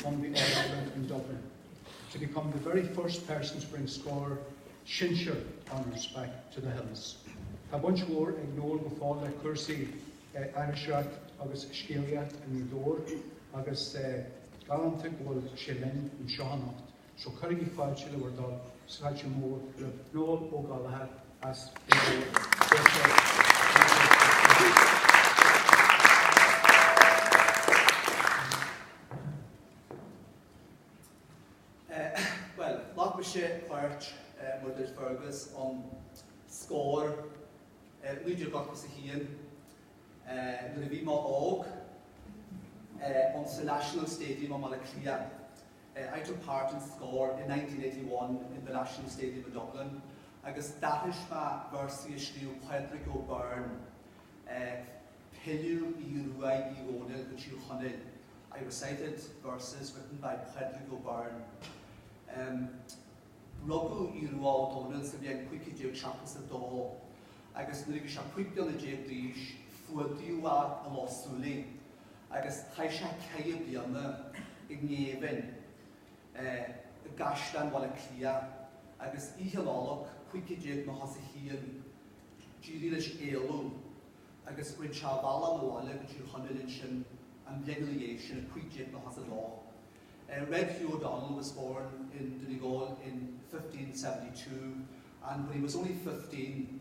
won the All-Ireland in Dublin to become the very first person to bring Scór Sinsear honours back to the Hills. Tá baint mhór ag Noel go fóill le cúrsaí aithriseoireacht agus scéalaíocht i nGaoth Dobhair agus galánta go bhfuil sé linn anseo anocht. So cuirigí fáilte le bhur dtoil is fáilte mhór le Noel Ó Gallchóir as Fine Gael. Deis dó dul go Gaeilge. Bhuel, ghlac mise páirt mar a dúirt Fergus in Scór i 1981 nuair a bhí mé óg ins an National Stadium i mBaile Átha Cliath. I took part in Scór in nineteen eighty one in the National Stadium in Dublin agus d'aithris mé véarsaí a scríobh Pádraig Ó Beirn Pilleadh Aoidh Ruaidh Uí Dhónaill go Tír Chonaill I recited verses written by Pádraig Ó Beirn um Rugadh Aodh Rua Ó Dónaill sa bhliain cúig chéad déag seachtó is a dó agus nuair a bhí sé cúig bliana déag d'aois fuadaíodh é i Loch Súilí agus chaith sé ceithre bliana i ngéibheann i gCaisleán Bhaile Átha Cliath agus oíche Nollag 1591 d'éirigh leis éalú agus rinne sé a bhealach abhaile go Tír Chonaill ansin an bhliain ina dhiaidh sin, 1592. Red Hugh O'Donnell was born in Donegal in 1572 and when he was only fifteen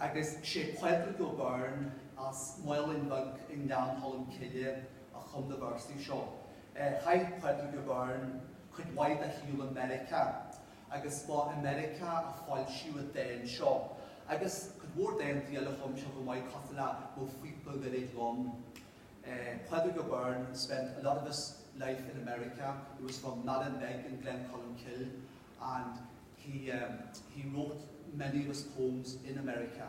agus is é Pádraig Ó Beirn as Málainn Bhig i nGleann Cholm Cille a chum na véarsaí seo. Chaith Pádraig Ó Beirn cuid mhaith dá shaol i Meiriceá agus ba i Meiriceá a foilsíodh an dán seo agus cuid mhór dántaí eile a chum sé chomh maith cosúil le Mo Phíopa Goirid Donn. Pádraig Ó Beirn spent a lot of his life in America, he was from Malin Beg in Gleann Cholm Cille and. He he wrote many of his poems in America.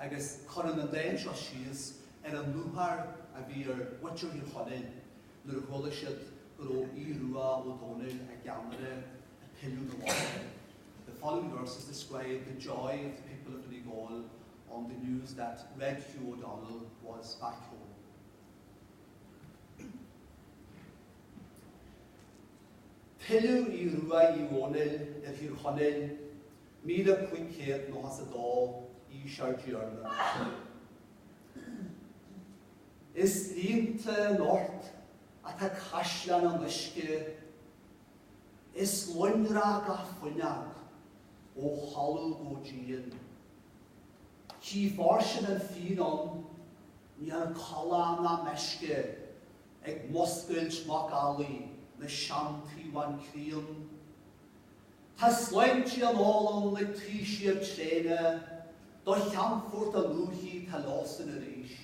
Agus cuireann an dán seo síos ar an lúcháir a bhí ar mhuintir Thír Chonaill nuair a chuala siad go raibh Aodh Rua Ó Domhnaill, a gceannaire, ag pilleadh 'na bhaile. The following verses describe the joy of the people of Donegal on the news that Red Hugh O'Donnell was back home. Pilleadh Aoidh Ruaidh Uí Dhónaill ar Thír Chonaill, 1592, aois ár dTiarna. Is líonta anocht atá caisleán an uisce, is lonrach gach fuinneog ó thalamh go díon. Gidh fairsing an fíon ann. Níl ann callán na meisce ag muscailt macallaí na seantaobhán críon. Tá sláintí á n-ól ann le taoisigh tréine do cheannfort a luaithe tá leosan arís.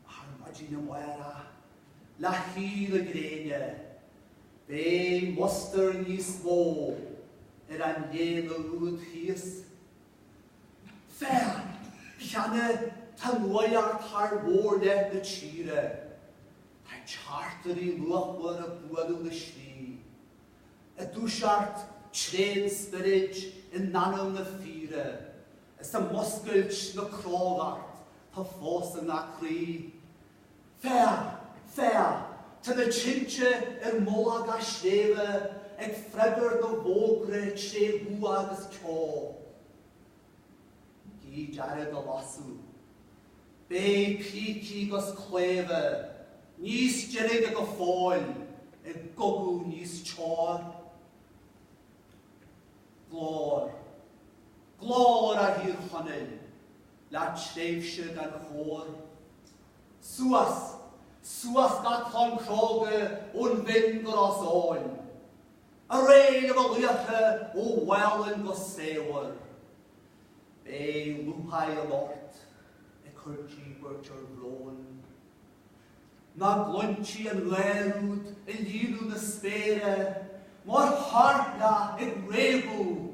Ar maidin amárach, le héirí na gréine, beidh mustar níos mó ar an léana úd thíos. Féach, cheana tá nuaíocht thar mhórleath na tíre. Tá teachtairí lúthmhara ag bualadh na slí. Ag dúiseacht tréan spioraid in anam na fíre, is ag muscailt na crógacht tá fós i ngach croí. Féach! Féach! Tá na tinte ar mhullach gach sléibhe ag freagairt na bhfógra tré bhua agus ceo. Gidh dearg a lasadh. Beidh pící 'gus claimhe níos deirge go fóill i gcogadh níos teo. Glóir, glóir a Thír Chonaill! le tréimhse gan chóir. Suas, suas gach clann chróga ón bhFinn go Ros Eoghain. Aré a mo laochra ó Mhálainn go Samhaoir. Beidh lúcháir anocht ag cur díbirt ar bhrón. Nach gcluintí an gháir úd ag líonadh na spéire mar thoirneach ag réabadh.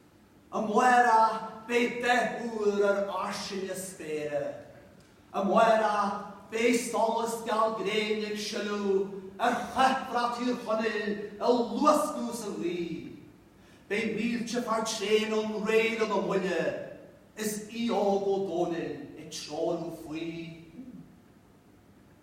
Amárach beidh dreach úr ar fhairsing na spéire. Amárach beidh solas geal gréine ag sileadh ar chathbhrat Thír Chonaill ag luascadh sa ghaoth. Beidh mílte fear tréan ann réidh in am buille is Aodh Ó Dónaill ag treorú faoi.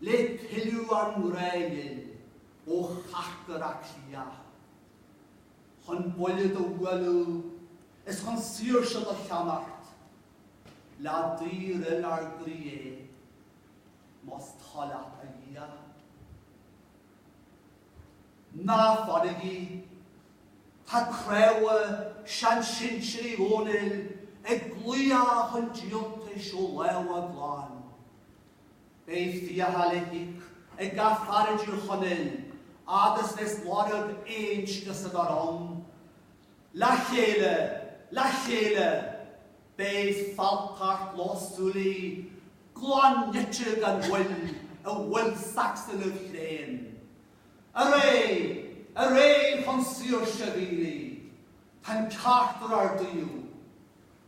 le pilleadh a ngrá ghil ó charcair Átha Cliath chun buille do bhualadh is chun saoirse do cheannacht le daorfhuil ár gcroíthe, más toil leat a Dhia. Ná fanaigí, tá cnámha sean sinsear Uí Dhónaill ag glaodhadh chun díoltais ó lámha a gclann. Beidh fiacha le híoc ag gach fear i dTír Chonaill agus is lorg inscne san ár ann. Le chéile! Le chéile! Beidh fealltacht Loch Súilí glan nite gan mhoill i bhfuil Sacsana chlaoin. Aré! Aré chun saoirse, a mhílí! Tá'n ceart ar ár dtaobh!